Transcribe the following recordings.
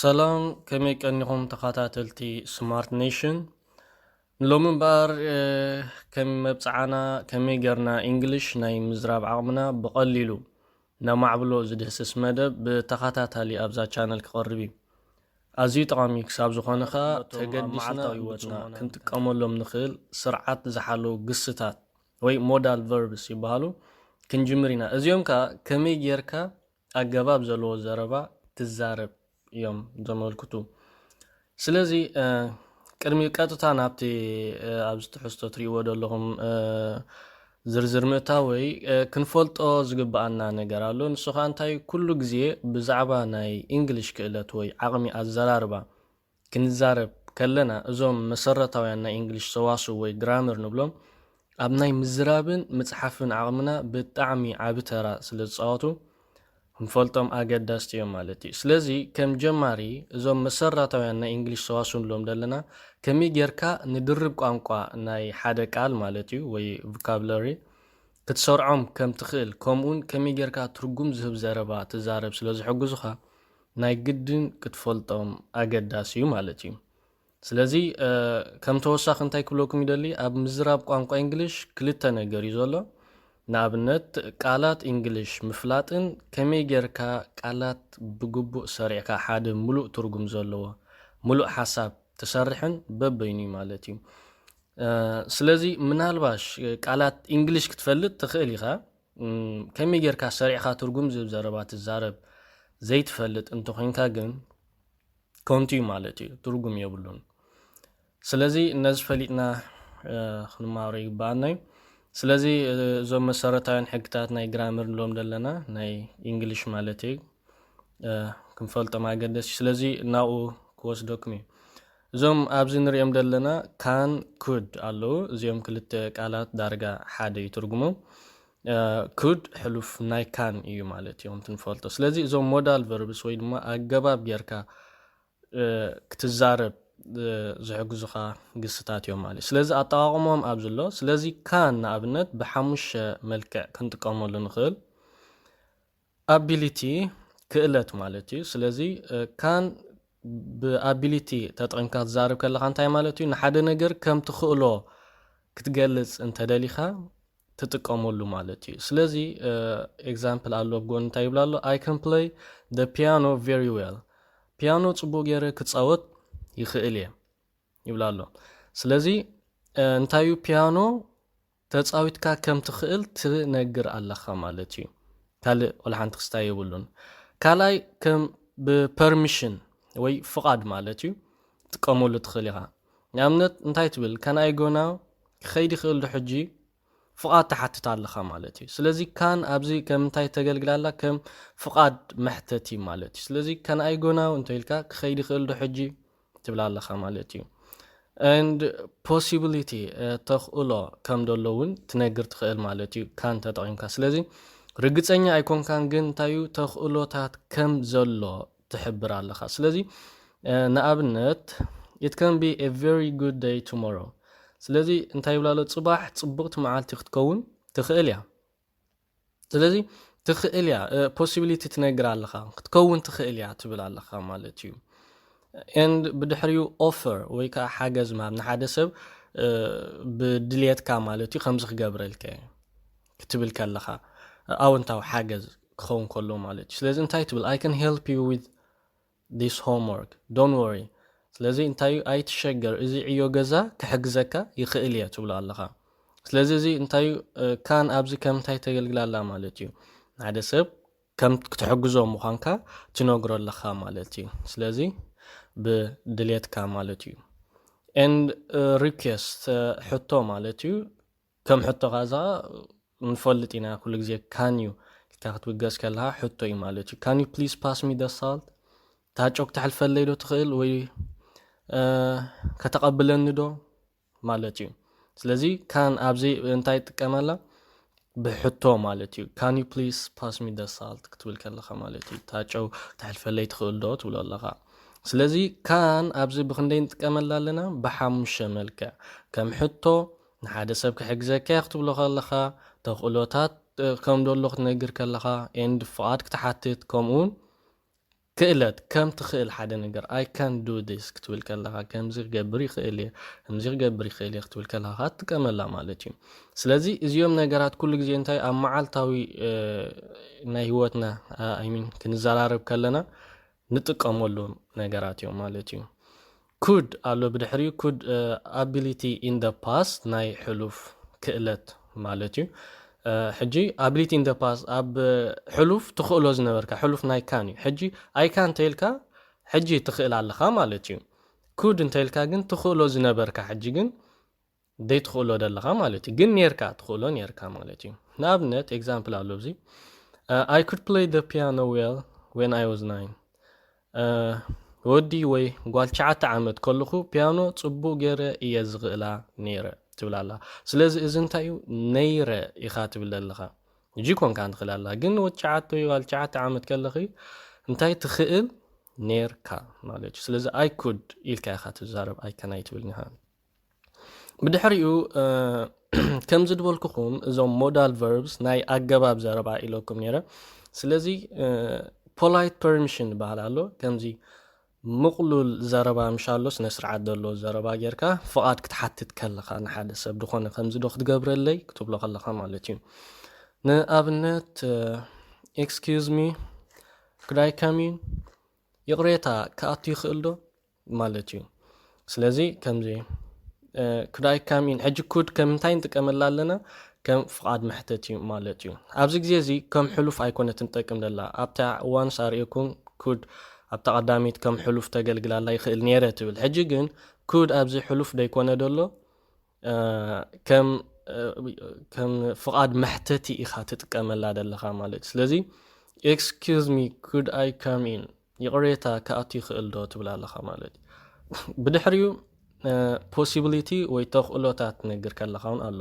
ሰላም ከመይ ቀኒኹም ተኻታተልቲ ስማርት ኔሽን ንሎሚ እምበኣር ከም መብፅዓና ከመይ ገርና ኢንግሊሽ ናይ ምዝራብ ዓቕምና ብቐሊሉ ነማዕብሎ ዝድህስስ መደብ ብተኸታታሊ ኣብዛ ቻነል ክቐርብ እዩ ኣዝዩ ጠቓሚ ክሳብ ዝኾነ ከዓ ተገዲስና ህይወትና ክንጥቀመሎም ንኽእል ስርዓት ዝሓለዉ ግስታት ወይ ሞዳል ቨርብስ ይበሃሉ ክንጅምር ኢና እዚኦም ከዓ ከመይ ጌርካ ኣገባብ ዘለዎ ዘረባ ክዛረብ እዮም ዘመልክቱ። ስለዚ ቅድሚ ቀጥታ ናብቲ ኣብዚ ትሕዝቶ ትሪእዎ ዘለኹም ዝርዝር ምእታወይ ክንፈልጦ ዝግብኣና ነገር ኣሎ። ንሱ ከዓ እንታይ ኩሉ ግዜ ብዛዕባ ናይ ኢንግሊሽ ክእለት ወይ ዓቕሚ ኣዘራርባ ክንዛረብ ከለና እዞም መሰረታውያን ናይ ኢንግሊሽ ሰዋስው ወይ ግራመር ንብሎም ኣብ ናይ ምዝራብን ምጽሓፍን ዓቕምና ብጣዕሚ ዓቢ ተራ ስለ ዝጻወቱ ክንፈልጦም ኣገዳስቲ እዮም ማለት እዩ። ስለዚ ከም ጀማሪ እዞም መሰረታውያን ናይ ኢንግሊሽ ሰዋስው ንብሎም ዘለና ከመይ ጌርካ ንድርብ ቋንቋ ናይ ሓደ ቃል ማለት እዩ ወይ ቮካብለሪ ክትሰርዖም ከም ትኽእል ከምኡውን ከመይ ጌርካ ትርጉም ዝህብ ዘረባ ትዛረብ ስለ ዝሕግዙኻ ናይ ግድን ክትፈልጦም ኣገዳሲ እዩ ማለት እዩ። ስለዚ ከም ተወሳኺ እንታይ ክብለኩም ይደሊ ኣብ ምዝራብ ቋንቋ እንግሊሽ ክልተ ነገር እዩ ዘሎ ንኣብነት ቃላት እንግሊሽ ምፍላጥን ከመይ ጌርካ ቃላት ብግቡእ ሰሪዕካ ሓደ ሙሉእ ትርጉም ዘለዎ ሙሉእ ሓሳብ ትሰርሕን በበይኑ እዩ ማለት እዩ ስለዚ ምናልባሽ ቃላት እንግሊሽ ክትፈልጥ ትኽእል ኢኻ ከመይ ጌርካ ሰሪዕካ ትርጉም ዝብ ዘረባ ትዛረብ ዘይትፈልጥ እንተኾይንካ ግን ከንቱ እዩ ማለት እዩ፣ ትርጉም የብሉን። ስለዚ ነዚ ፈሊጥና ክንማሮ ይግባኣና እዩ። ስለዚ እዞም መሰረታውያን ሕግታት ናይ ግራምር ንብሎም ዘለና ናይ ኢንግሊሽ ማለት እዩ ክንፈልጦም ኣገደሲ ስለዚ ናብኡ ክወስደኩም እዩ እዞም ኣብዚ ንሪኦም ዘለና ካን ኩድ ኣለዉ እዚኦም ክልተ ቃላት ዳርጋ ሓደ እዩ ትርጉሞም ኩድ ሕሉፍ ናይ ካን እዩ ማለት እዮም ትንፈልጦ ስለዚ እዞም ሞዳል ቨርብስ ወይ ድማ ኣገባብ ጌርካ ክትዛረብ ዝሕግዙኻ ግስታት እዮም ማለት ስለዚ ኣጠቃቅሞም ኣብዚ ኣሎ ስለዚ ካን ንኣብነት ብሓሙሽተ መልክዕ ክንጥቀመሉ ንኽእል Ability፣ ክእለት ማለት እዩ። ስለዚ ካን ብኣቢሊቲ ተጠቒምካ ትዛረብ ከለኻ እንታይ ማለት እዩ? ንሓደ ነገር ከም ትኽእሎ ክትገልጽ እንተደሊኻ ትጥቀመሉ ማለት እዩ። ስለዚ ኤግዛምፕል ኣሎ ኣብ ጎኒ እንታይ ይብላ ኣሎ ኣይ ካን ፕለይ ደ ፒያኖ ቨሪ ዌል ፒያኖ ጽቡቅ ገይረ ክጻወት ይኽእል እየ ይብላ ኣሎ። ስለዚ እንታዩ ፒያኖ ተጻዊትካ ከም ትኽእል ትነግር ኣለኻ ማለት እዩ ካልእ ወላ ሓንቲ ክስታይ የብሉን ካልኣይ ከም ብ permission ወይ ፍቓድ ማለት እዩ ትጥቀመሉ ትኽእል ኢኻ ንኣብነት እንታይ ትብል can I go now ክኸይድ ይኽእል ዶ ሕጂ ፍቓድ ትሓትት ኣለኻ ማለት እዩ ስለዚ ካን ኣብዚ ከም እንታይ ተገልግል ኣላ ከም ፍቓድ መሕተቲ ማለት እዩ ስለዚ can I go now እንተ ኢልካ ክኸይድ ይኽእል ዶ ሕጂ ትብል ኣለኻ ማለት እዩ ን ፖሲቢሊቲ ተኽእሎ ከም ደሎ እውን ትነግር ትኽእል ማለት እዩ ካን ተጠቒምካ ስለዚ ርግፀኛ ኣይኮንካን ግን እንታይ እዩ ተኽእሎታት ከም ዘሎ ትሕብር ኣለኻ ስለዚ ንኣብነት it can be a very good day tomorrow ስለዚ እንታይ ይብላሎ ጽባሕ ጽቡቕቲ መዓልቲ ክትከውን ትኽእል እያ ስለዚ ትኽእል እያ ፖሲቢሊቲ ትነግር ኣለኻ ክትከውን ትኽእል እያ ትብል ኣለኻ ማለት እዩ ኤንድ ብድሕሪኡ ኦፈር ወይ ከዓ ሓገዝ ምሃብ ንሓደ ሰብ ብድልየትካ ማለት እዩ ከምዚ ክገብረልከ ክትብል ከለኻ ኣወንታዊ ሓገዝ ክኸውን ከሎ ማለት እዩ ስለዚ እንታይ ትብል ኣይ ከን ሄልፕ ዩ ዊዝ this homework don't worry ስለዚ እንታይ እዩ ኣይትሸገር እዚ ዕዮ ገዛ ክሕግዘካ ይኽእል እየ ትብሎ ኣለኻ ስለዚ እዚ እንታይ እዩ ካን ኣብዚ ከም እንታይ ተገልግላ ኣላ ማለት እዩ ሓደ ሰብ ከም ክትሕግዞ ምዃንካ ትነግሮ ኣለኻ ማለት እዩ ስለዚ ብድሌትካ ማለት እዩ and uh, request uh, ሕቶ ማለት እዩ ከም ሕቶኻ እዛ ንፈልጥ ኢና ኩሉ ግዜ ካን ዩ ኢልካ ክትብገስ ከለኻ ሕቶ ዩ ማለት ዩ ካን ዩ ፕሊስ ፓስ ሚ ደ ሳልት እታ ጮክ ተሕልፈለይ ዶ ትኽእል ወይ ከተቐብለኒ ዶ ማለት ዩ ስለዚ ካን ኣብዚ እንታይ ጥቀመላ ብሕቶ ማለት ዩ ካን ዩ ፕሊስ ፓስ ሚ ደ ሳልት ክትብል ከለኻ ማለት ዩ እታ ጨው ተሕልፈለይ ትኽእል ዶ ትብሎ ኣለኻ ስለዚ ካን ኣብዚ ብክንደይ ንጥቀመላ ኣለና ብሓሙሽተ መልክዕ ከም ሕቶ ንሓደ ሰብ ክሕግዘካ'የ ክትብሎ ከለኻ፣ ተኽእሎታት ከም ደሎ ክትነግር ከለኻ፣ and ፍቓድ ክትሓትት ከምኡ'ውን ክእለት ከም ትኽእል ሓደ ነገር I can do this ክትብል ከለኻ፣ ከምዚ ክገብር ይኽእል'የ፣ ከምዚ ክገብር ይኽእል'የ ክትብል ከለኻ ከኣ ትጥቀመላ ማለት'ዩ። ስለዚ እዚኦም ነገራት ኩሉ ግዜ እንታይ ኣብ መዓልታዊ ናይ ህይወትና I mean ክንዘራረብ ከለና ንጥቀመሎም ነገራት እዮም ማለት እዩ። could ኣሎ ብድሕሪኡ could ability in the past ናይ ሕሉፍ ክእለት ማለት እዩ። ሕጂ ability in the past ኣብ ሕሉፍ ትኽእሎ ዝነበርካ ሕሉፍ ናይ ካን እዩ። ሕጂ ኣይካ እንተይልካ ሕጂ ትኽእል ኣለኻ ማለት እዩ። ኩድ እንተይልካ ግን ትኽእሎ ዝነበርካ ሕጂ ግን ዘይትኽእሎ ደለኻ ማለት እዩ ግን ኔርካ ትኽእሎ ኔርካ ማለት እዩ ንኣብነት ኤግዛምፕል ኣሎ ኣብዚ ኣይ ኩድ ፕለይ ደ ፒያኖ ዌል ወን ኣይ ዋዝ ናይን ወዲ ወይ ጓል ትሽዓተ ዓመት ከለኹ ፒያኖ ፅቡቅ ገይረ እየ ዝኽእላ ነይረ ትብል ኣላ ስለዚ እዚ እንታይ እዩ ነይረ ኢኻ ትብል ኣለኻ እጂ ኮንካ ንኽእል ኣላ ግን ወዲ ትሽዓተ ወይ ጓል ትሽዓተ ዓመት ከለኺ እንታይ ትኽእል ኔርካ ማለት እዩ ስለዚ ኣይ ኩድ ኢልካ ኢኻ ትዛረብ ኣይከናይ ትብል ኒሃ ብድሕሪኡ ከምዚ ድበልኩኹም እዞም ሞዳል ቨርብስ ናይ ኣገባብ ዘረባ ኢለኩም ነረ ስለዚ ፖላይት ፐርሚሽን ዝበሃል ኣሎ ከምዚ ምቕሉል ዘረባ ምሽ ኣሎ ስነ ስርዓት ዘለዎ ዘረባ ጌርካ ፍቓድ ክትሓትት ከለኻ ንሓደ ሰብ ዝኾነ ከምዚ ዶ ክትገብረለይ ክትብሎ ከለኻ ማለት እዩ ንኣብነት ኤክስኪዝ ሚ ክዳይ ከሚን ይቕሬታ ክኣቱ ይኽእል ዶ ማለት እዩ ስለዚ ከምዚ ኩዳይ ካም ኢን ሕጂ ኩድ ከም እንታይ ንጥቀመላ ኣለና ከም ፍቓድ መሕተት እዩ ማለት እዩ ኣብዚ ግዜ እዚ ከም ሕሉፍ ኣይኮነት ንጠቅም ደላ ኣብታ እዋንስ ኣርእኩም ኩድ ኣብታ ቀዳሚት ከም ሕሉፍ ተገልግላላ ይኽእል ነይረ ትብል ሕጂ ግን ኩድ ኣብዚ ሕሉፍ ደይኮነ ደሎ ከም ፍቓድ መሕተቲ ኢኻ ትጥቀመላ ዘለኻ ማለት ስለዚ ኤክስኪዝ ሚ ኩድ ኣይ ካም ኢን ይቕሬታ ክኣቱ ይኽእል ዶ ትብላ ኣለኻ ማለት ብድሕሪኡ ፖሲቢሊቲ ወይ ተኽእሎታት ትነግር ከለኻ እውን ኣሎ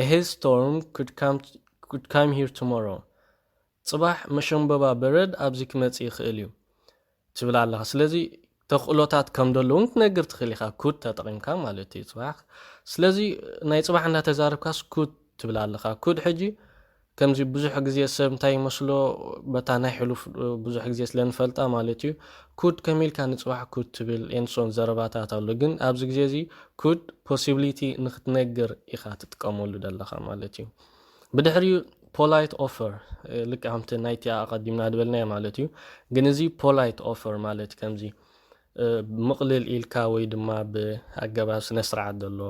ኤሄ ስቶርም ኩድ ካም ሂር ቱሞሮ ጽባሕ መሸምበባ በረድ ኣብዚ ክመጽእ ይኽእል እዩ ትብል ኣለኻ ስለዚ ተኽእሎታት ከም ደሎ እውን ክትነግር ትኽእል ኢኻ ኩድ ተጠቒምካ ማለት እዩ ጽባሕ ስለዚ ናይ ጽባሕ እንዳተዛረብካስ ኩድ ትብል ኣለኻ ኩድ ሕጂ ከምዚ ብዙሕ ግዜ ሰብ እንታይ ይመስሎ በታ ናይ ሕሉፍ ብዙሕ ግዜ ስለ ንፈልጣ ማለት እዩ ኩድ ከም ኢልካ ንፅባሕ ኩድ ትብል ኤንሶን ዘረባታት ኣሎ ግን ኣብዚ ግዜ እዚ ኩድ ፖሲቢሊቲ ንክትነግር ኢኻ ትጥቀመሉ ዘለኻ ማለት እዩ ብድሕሪኡ ፖላይት ኦፈር ልክዕ ከምቲ ናይቲኣ ኣቐዲምና ዝበልናዮ ማለት እዩ ግን እዚ ፖላይት ኦፈር ማለት ከምዚ ምቕልል ኢልካ ወይ ድማ ብኣገባብ ስነ ስርዓት ዘሎ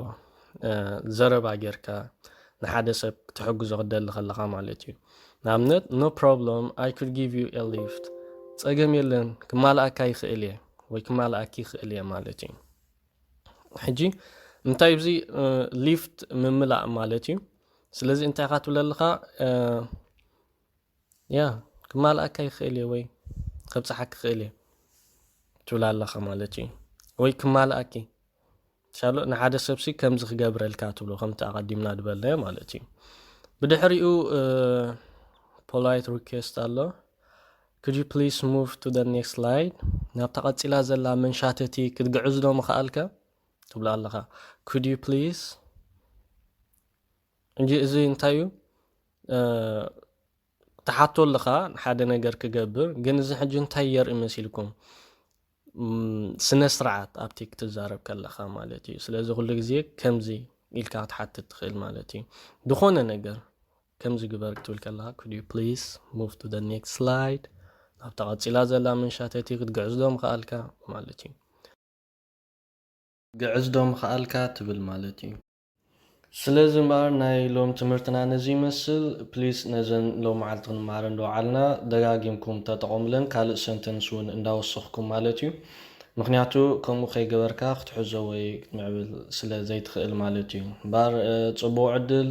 ዘረባ ጌርካ ንሓደ ሰብ ክትሕግዞ ክትደሊ ከለኻ ማለት እዩ ንኣብነት ኖ ፕሮብሎም ኣይ ኩድ ጊቭ ዩ ኤ ሊፍት ጸገም የለን ክማልኣካ ይኽእል እየ ወይ ክማልኣኪ ይኽእል እየ ማለት እዩ ሕጂ እንታይ እዚ ሊፍት ምምላእ ማለት እዩ ስለዚ እንታይ ኢኻ ትብል ኣለኻ ያ ክማልኣካ ይኽእል እየ ወይ ከብፅሓ ክኽእል እየ ትብል ኣለኻ ማለት እዩ ወይ ክማልኣኪ ሻሎ ንሓደ ሰብሲ ከምዚ ክገብረልካ ትብሎ ከምቲ ኣቐዲምና ዝበልናዮ ማለት እዩ ብድሕሪኡ ፖላይት ሪኬስት ኣሎ Could you please move to the next slide ናብታ ቀጺላ ዘላ መንሻተቲ ክትግዕዝ ዶ ምኸኣልካ ትብሎ ኣለኻ Could you please እንጂ እዚ እንታይ እዩ ትሓቶ ኣለኻ ሓደ ነገር ክገብር ግን እዚ ሕጂ እንታይ የርኢ መሲልኩም ስነ ስርዓት ኣብቲ ክትዛረብ ከለኻ ማለት እዩ ስለዚ ኩሉ ግዜ ከምዚ ኢልካ ክትሓትት ትኽእል ማለት እዩ ዝኾነ ነገር ከምዚ ግበር ክትብል ከለካ could you please move to the next slide ናብታ ቀጺላ ዘላ መንሻተቲ ክትግዕዝ ዶ ምኸኣልካ ማለት እዩ። ግዕዝ ዶ ምኸኣልካ ትብል ማለት እዩ። ስለዚ እምበኣር ናይ ሎም ትምህርትና ነዚ ይመስል። please ነዘን ሎም መዓልቲ ክንመሃረን ዝወዓልና ደጋጊምኩም ተጠቐሙለን ካልእ ሰንተንስ እውን እንዳወሰኽኩም ማለት እዩ። ምኽንያቱ ከምኡ ከይገበርካ ክትሕዞ ወይ ክትምዕብል ስለ ዘይትኽእል ማለት እዩ። እምበኣር ጽቡቕ ዕድል።